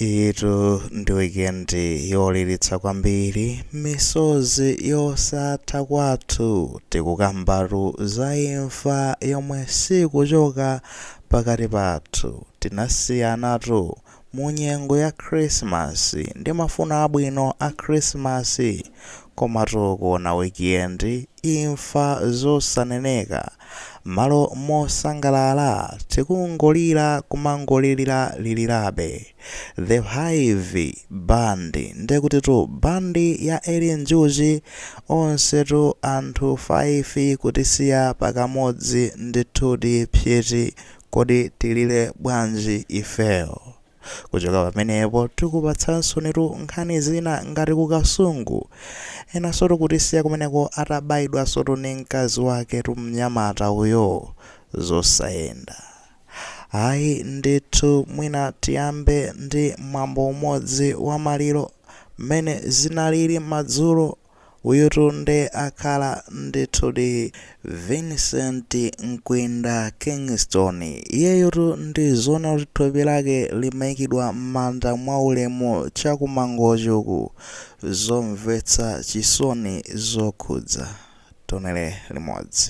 Iyitu ndi wikendi yoliritsa kwambiri, misozi yosatha kwathu tikukambatu za imfa yomwe siikuchoka pakati pathu. Tinasiyanatu mu nyengo ya Khrisimasi ndi mafuno abwino a Khrisimasi, komatu kuona wikendi imfa zosaneneka. Mmalo mosangalala tikungolira kumangolirira lirirabe. The hive band ndekutitu band ya Eli Njuchi onsetu anthu 5 kutisiya pakamodzi ndithudi psyiti kodi tilire bwanji ifeyo. Kuchoka pamenepo tikupatsaninsotu nkhani zina ngati ku Kasungu. Enansotu kutisiya kumeneko atabaidwansotu ndi mkazi waketu mnyamata uyo. Zosayenda. Ayi ndithu mwina tiyambe ndi mwambo umodzi wa maliro mmene zinalili madzulo. Uyutu nde akhala ndithudi Vincent Mkwinda Kingston. Iyeyutu ndi zoona kuti thupi lake limaikidwa m'manda mwaulemu cha ku Mangochi uku. Zomvetsa chisoni zokhudza. Tionere limodzi.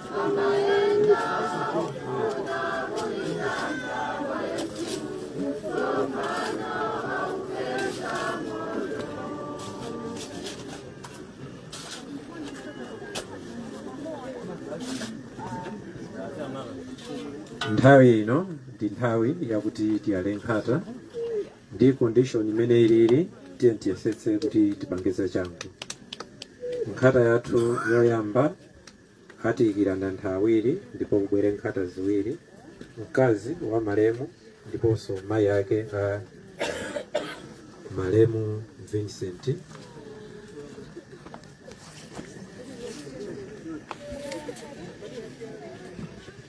nthawi ino ndi nthawi yakuti tiyale nkhata ndi condition imene ilili tiye tiyesetse kuti tipangize changu nkhata yathu yoyamba Atiikira ndi anthu awiri ndipo kubwere nkhata ziwiri, mkazi wa malemu ndiponso mayi ake a malemu Vincent.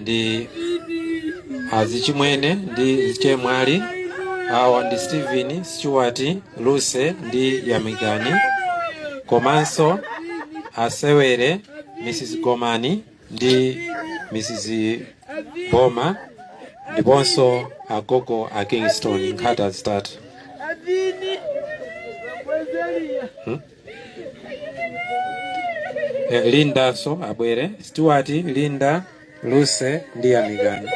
ndi azichimwene ndi achemwali awa ndi stephen stewart luse ndi yamikani komanso abwere mrs gomani ndi mrs boma ndiponso agogo a kingston nkhata zitatu Eh, linda nso abwere stewart linda luse ndi yamikani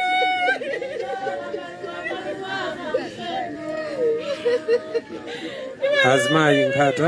azimayi nkhata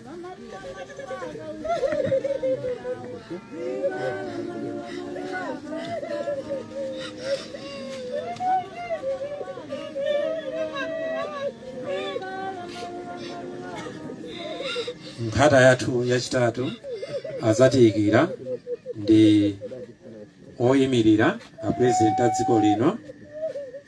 nkhata yathu yachitatu adzatiikira ndi oyimirira a president a dziko lino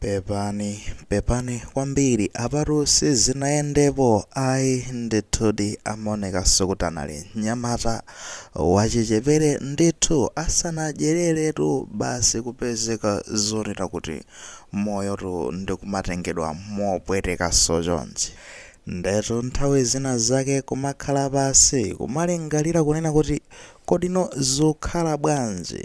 Pepani, pepani kwambiri apatu sizinayendepo ayi ndithudi amaonekaso kuti anali mnyamata wachichepere ndithu asanadyereretu basi kupezeka zonena kuti moyotu ndikumatengedwa mopwetekaso chonchi ndetu nthawi zina zake kumakhala pansi kumalingalira kunena kuti kodino zokhala bwanji?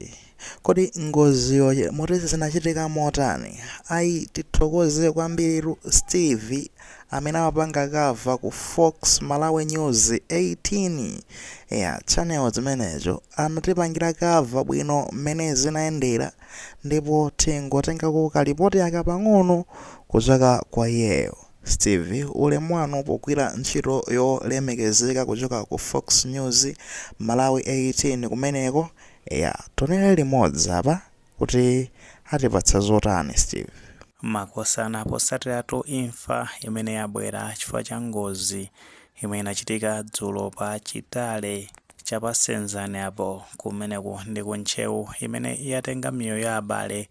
Kodi ngoziyo motse zinachitika motani? Ayi tithokoze kwambiritu Steve amene amapanga cover ku Fox Malawi News 18 eya channel chimenecho anatipangira cover bwino mmene zinayendera ndipo tingotengako ka lipoti aka pang'ono kuchoka kwa iyeyo. Steve ulemu wanu pogwira ntchito yolemekezeka kuchoka ku Fox News Malawi 18 kumeneko. Eya, tionere limodzi apa kuti atipatsa zotani Steve. Makosana posatiratu imfa imene yabwera chifukwa cha ngozi imene inachitika dzulo pa Chitale cha pa Senzani apo, kumeneku ndi ku Ntcheu, imene yatenga miyoyo ya abale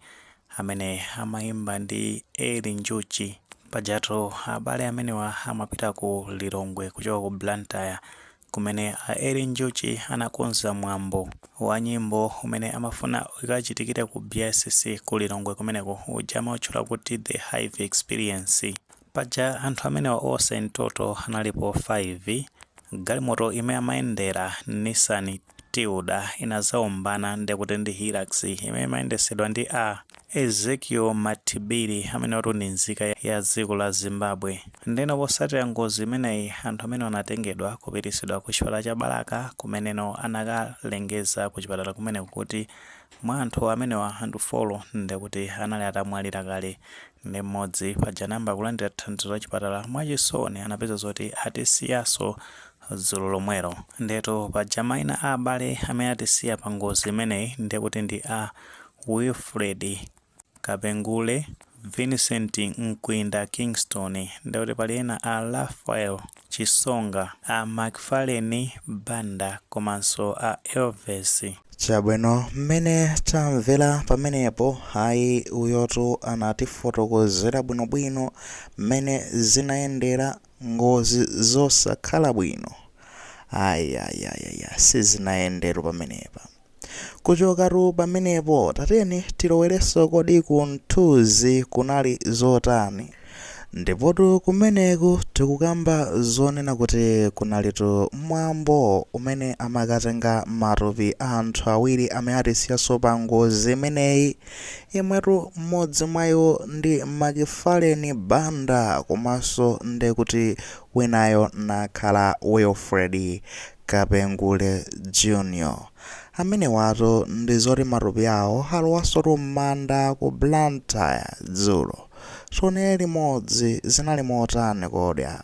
amene amayimba ndi Eli Njuchi. Pajatu abale amenewa amapita ku Lilongwe kuchoka ku Blantyre kumene a Eli Njuchi anakonza mwambo wa nyimbo umene amafuna ukachitikire ku BICC ku Lilongwe kumeneko uja amautchula kuti The Hive Experience. Paja anthu amenewa onse in total analipo 5. Galimoto imene amayendera, Nissan Tiida, inadzaombana ndekuti ndi Hilux imene imayendetsedwa ndi a. Ezekiel Matibiri amenewatu ndi nzika ya dziko la Zimbabwe. Ndeno posatira ngozi imeneyi anthu amenewa anatengedwa kupitisidwa ku chipatala cha Balaka kumeneno anakalengeza ku chipatala kumeneko kuti mwa anthu amenewa anthu folo ndekuti anali atamwalira kale nde mmodzi paja anayamba kulandira thandizo la chipatala mwachisoni anapeza zoti atisiyaso dzulo lomwero ndetu paja maina a abale amene atisiya pa ngozi imeneyi ndekuti ndi a Wilfred Kapengule, Vincent Mkwinda Kingston, ndikuti pali ena a Raphael Chisonga, a McFarlane Banda komanso a Elvis. Chabwino mmene tamvera pamenepo ayi uyotu anatifotokozera bwinobwino mmene zinayendera. ngozi zosakhala bwino ayayayaya sizinayende olo pamenepa kuchokatu pamenepo tatiyeni tilowereso kodi ku Mthunzi kunali zotani ndipotu kumeneku tikukamba zonena kuti kunalitu mwambo umene amakatenga matupi a anthu awiri amene atisiyaso pa ngozi imeneyi Imwetu mmodzi mwa iwo ndi Macfallen Banda komanso ndekuti winayo nakhala Wilfred Kapengule Jr. Amenewatu ndizoti matupi awo alowasotu mmanda ku Blantyre dzulo. Tionere limodzi zinali motani kodi apa?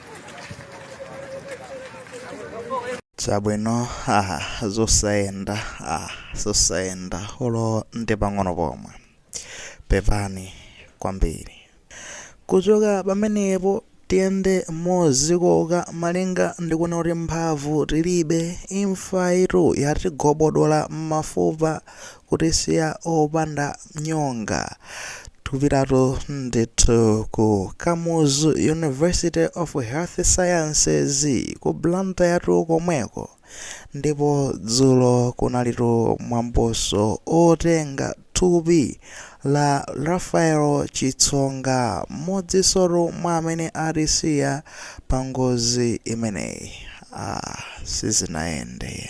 chabwino aha zosayenda ah zosayenda olo ndi pang'ono pomwe pepani kwambiri kuchoka pamenepo tiyende mozikoka malinga ndikuona kuti mphamvu tilibe imfayitu yatigobodola m'mafupa kutisiya opanda nyonga tupitatu ndithu ku kamuzu university of health sciences ku Blantyretu komweko ndipo dzulo kunalitu mwamboso otenga thupi la Raphael Chitsonga mmodzisotu mwa amene atisiya pa ngozi imeneyi ah, sizinayende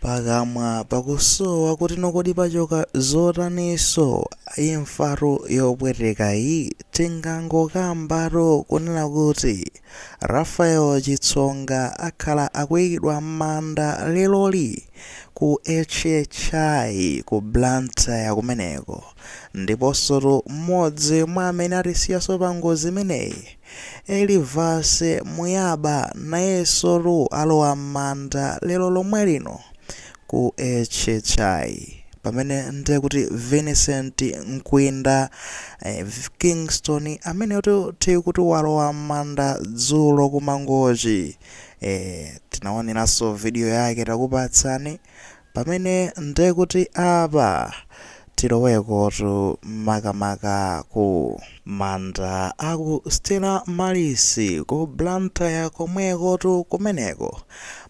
Pakamwa pakusowa kuti no kodi pachoka zotaniso imfatu yopwetekayi tingangokambatu kunena kuti Raphael chitsonga akhala akuikidwa mmanda leloli ku HHI ku Blantyre kumeneko ndiposotu mmodzi mwa amene atisiyaso pangozi imeneyi Elivase Muyaba nayesotu alowa mmanda lero lomwe lino ku HHI pamene nde kuti Vincent Mkwinda Kingston ameneyotu tikuti walowa mmanda dzulo ku Mangochi, ee tinaoneraso video yake takupatsani, Pamene nde kuti apa tilowekotu makamaka ku manda a ku Stella Maris ku Blantyre komwekotu kumeneko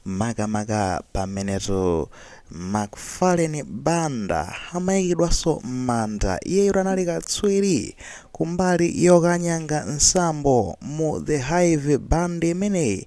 makamaka pamenetu Macfallen Banda amayikidwaso m'manda iyeyotu anali katswiri kumbali yokanyanga nsambo mu The Hive Band imeneyi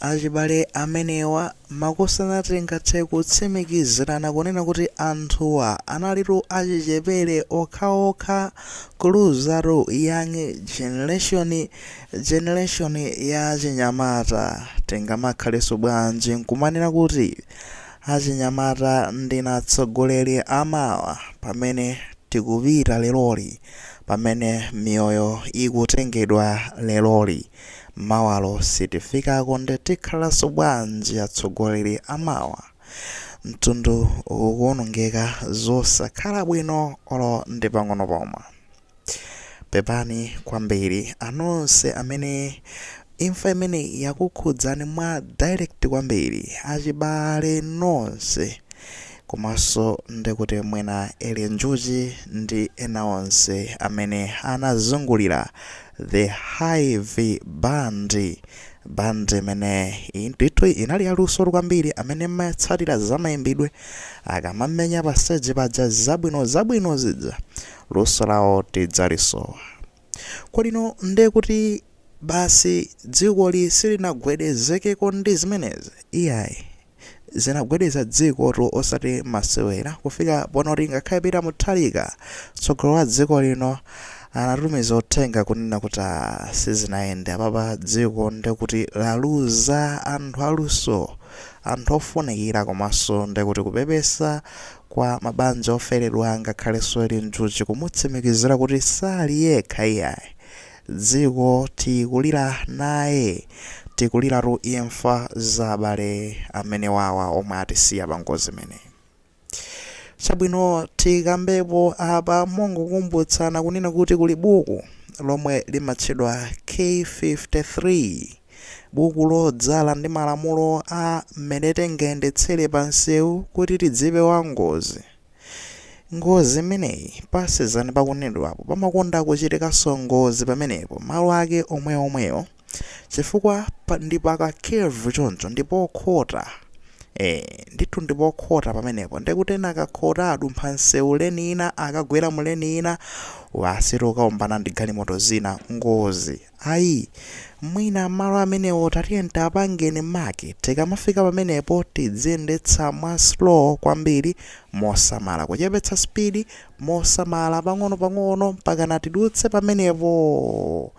Achibale amenewa makosana tingathe kutsimikizirana kunena kuti anthuwa analitu achichepere okhaokha kuluzatu young generation generation ya achinyamata tingamakhalenso bwanji nkumanena kuti achinyamata ndi atsogoleli amawa pamene tikupita leloli pamene miyoyo ikutengedwa leloli. Mawalo sitifikako nde tikhalaso bwanji atsogoleli amawa mtundu ukuonongeka zosakhala bwino olo ndi pang'ono pomwe. Pepani kwambili anonse amene imfa imeneyi yakukhudzani mwa direct kwambili achibale nonse komaso ndekuti mwina Eli Njuchi ndi ena onse amene anazungulila The Hive Band, band imene ndithu inali yaluso kwambiri amene matsatira zamayimbidwe akamamenya pa stage paja zabwino zabwino zija luso lawo tidzalisowa kodi ino nde kuti basi dzikoli silinagwedezekeko ndi zimenezi iyayi zinagwedeza dziko tu osati masewera kufika ponoti ngakhale Peter Mutharika tsogolo wa dziko lino anatumiza uthenga kunena kuti "Ah, sizinayende apapa dziko ndekuti laluza anthu aluso anthu ofunikira komanso ndekuti kupepesa kwa mabanja oferedwa ngakhalenso Eli Njuchi kumutsimikizira kuti sali yekha iyayi Dziko tikulira naye. Tikuliratu imfa za abale amenewawa omwe atisiya pa ngozi imeneyi. Chabwino tikambepo apa mongokumbutsana kunena kuti kuli buku lomwe limatchedwa K53, buku lodzala ndi malamulo a mmene tingayendetsere pansewu kuti tidzipewa ngozi. Ngozi imeneyi pasezani pakunenedwapo pamakonda kuchitikanso ngozi pamenepo malo ake omweomwewo chifukwa pa, ndi pa kacurve choncho ndipokhota e, ndithu ndipokhota pamenepo ndekuti ena akakhota adumpha msewu lane ina akagwera mu lane ina basi ukaombana ndi galimoto zina ngozi Ayi. Mwina malo amenewo tatiyeni tapapangeni mark tikamafika pamenepo tidziyendetsa mwa slow kwambiri mosamala kuchepetsa speed mosamala pang'ono pang'ono mpakana tidutse pamenepo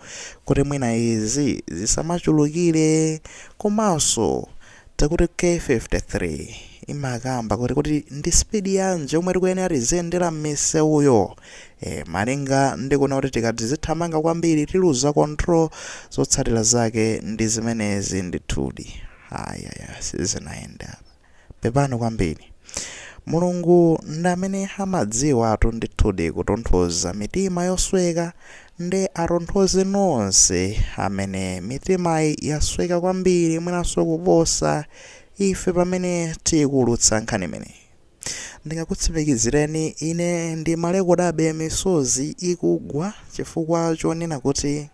kuti mwina izi zisamachulukire komanso takuti k53 imakamba kuti kuti ndi speed yanji yomwe tikuyenera tiziyendera m'misewuyo e, malinga ndi kuona kuti tikati tizithamanga kwambiri tiluza control zotsatira zake ndi zimenezi ndithudi ayaya sizinayenda pepani kwambiri mulungu ndi amene amadziwatu ndithudi kutonthoza mitima yosweka Nde atonthoze nonse amene mitimayi yasweka kwambiri mwinanso kuposa Ife pamene tikuulutsa nkhani imeneyi. Ndingakutsimikizireni ine ndimalekodabe misozi ikugwa chifukwa chonena kuti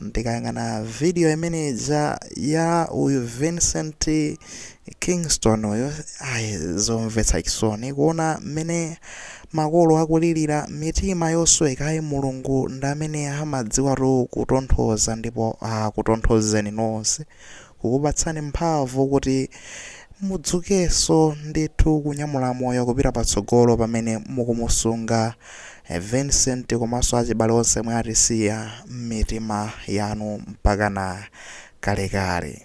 ndikayang'ana video imene ija ya uyu vincent kingston uyu ayi zomvetsa chisoni kuona mmene makolo akulirira mitima yosweka ayi mulungu ndi amene amadziwatu kutonthoza ndipo akutonthozeni nonse kukupatsani mphamvu kuti mudzukenso ndithu kunyamula moyo kupita patsogolo pamene mukumusunga Vincent komanso achibale onse omwe atisiya mmitima yanu mpakana kalekale.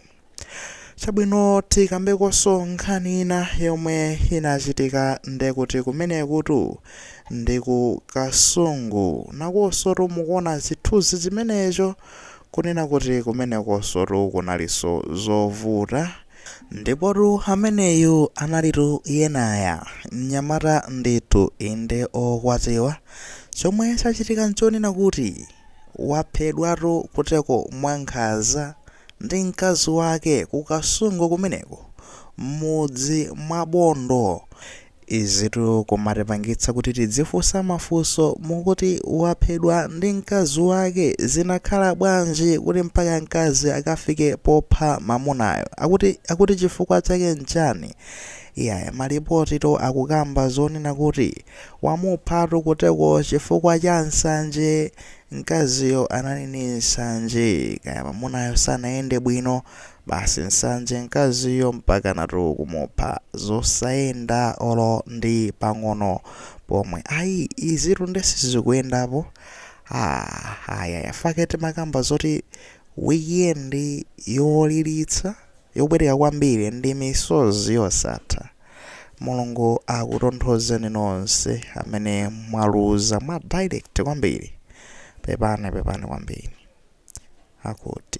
Chabwino tikambekonso nkhani ina yomwe inachitika ndekuti kumenekutu ndi ku Kasungu nakonsotu mukuona chithunzi chimenecho kunena kuti kumenekonsotu kunalinso zovuta. Ndipotu ameneyu analitu Yenaya, mnyamata ndithu, inde wokwatiwa. Chomwe chachitika n'chonena kuti waphedwatu kuteko mwankhanza ndi mkazi wake ku Kasungu kumeneko, m'mudzi mwa Bondo. Izitu kumatipangitsa kuti tidzifunsa mafunso mukuti waphedwa ndi mkazi wake zinakhala bwanji kuti mpaka mkazi akafike popha mamunayo? Akuti chifukwa chake nchani? Iyaya malipotiwo akukamba zonena kuti wamuphatu kuteko chifukwa cha nsanje mkaziyo anali ndi nsanje kaya mamunayo sanayende bwino Basi nsanje mkaziyo mpakanatu kumupha zosayenda olo ndi pang'ono pomwe ayi izitu nde sizikuyendapo aah ayaya n'chake timakamba zoti weekend yolilitsa yopweteka kwambiri ndi misozi yosatha mulungu akutonthozeni nonse amene mwaluza mwa direct kwambiri pepani pepani kwambiri akuti.